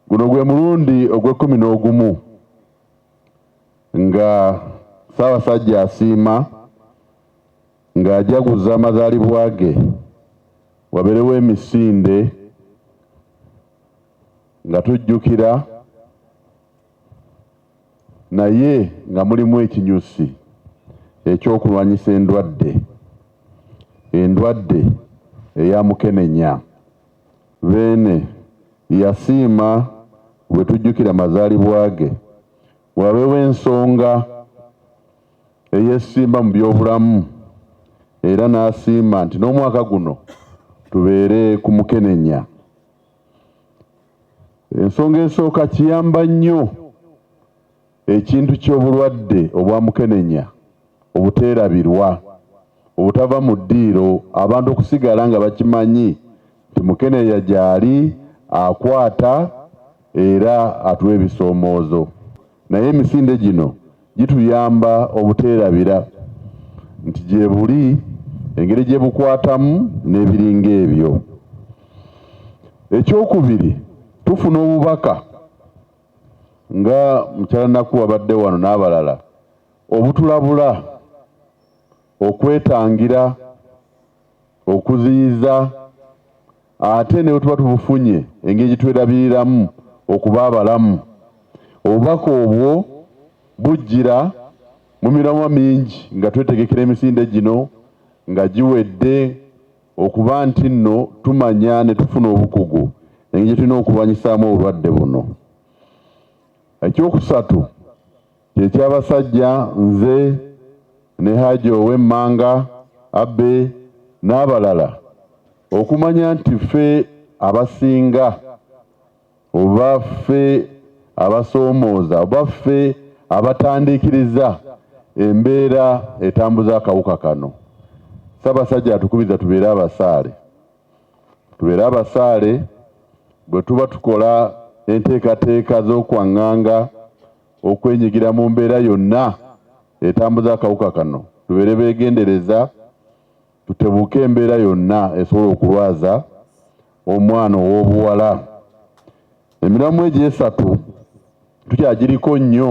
Guno gwe mulundi ogw'ekkumi n'ogumu nga Ssaabasajja asiima ng'ajaguza amazaalibwa ge wabeerewo emisinde nga tujjukira naye nga mulimu ekinyusi eky'okulwanyisa endwadde endwadde eya mukenenya. Beene yasiima bwe tujjukira amazaalibwa ge. Wabeewo ensonga eyeesimba mu by'obulamu era n'asiima nti n'omwaka guno tubeere ku mukenenya. Ensonga esooka kiyamba nnyo. Ekintu ky'obulwadde obwa mukenenya obuteerabirwa obutava mu ddiiro abantu okusigala nga bakimanyi nti mukeneya gyali akwata era atuwa ebisoomoozo naye emisinde gino gituyamba obuteerabira nti gyebuli, engeri gye bukwatamu n'ebiringa ebyo. Ekyokubiri tufuna obubaka. nga mukyala Naku wabadde wano n'abalala obutulabula okwetangira okuziyiza ate ne bwe tuba tubufunye engeri gye twerabiriramu okuba abalamu. Obubaka obwo bujjira mu miramwa mingi nga twetegekera emisinde gino nga giwedde. Okuba nti nno tumanya ne tufuna obukugu engeri gye tulina okulwanyisaamu obulwadde buno. Ekyokusatu kye ky'abasajja nze ne Haji ow'e Mmanga, Abe n'abalala okumanya nti ffe abasinga oba ffe abasoomooza oba ffe abatandiikiriza embeera etambuza akawuka kano, Ssabasajja atukubiriza tubeere abasaale. Tubeere abasaale bwe tuba tukola enteekateeka z'okwanganga okwenyigira mu mbeera yonna etambuza akawuka kano, tubeere begendereza Tutebuuke embeera yonna esobola okulwaza omwana ow'obuwala. Emiramwa egyo esatu tukyagiriko nnyo.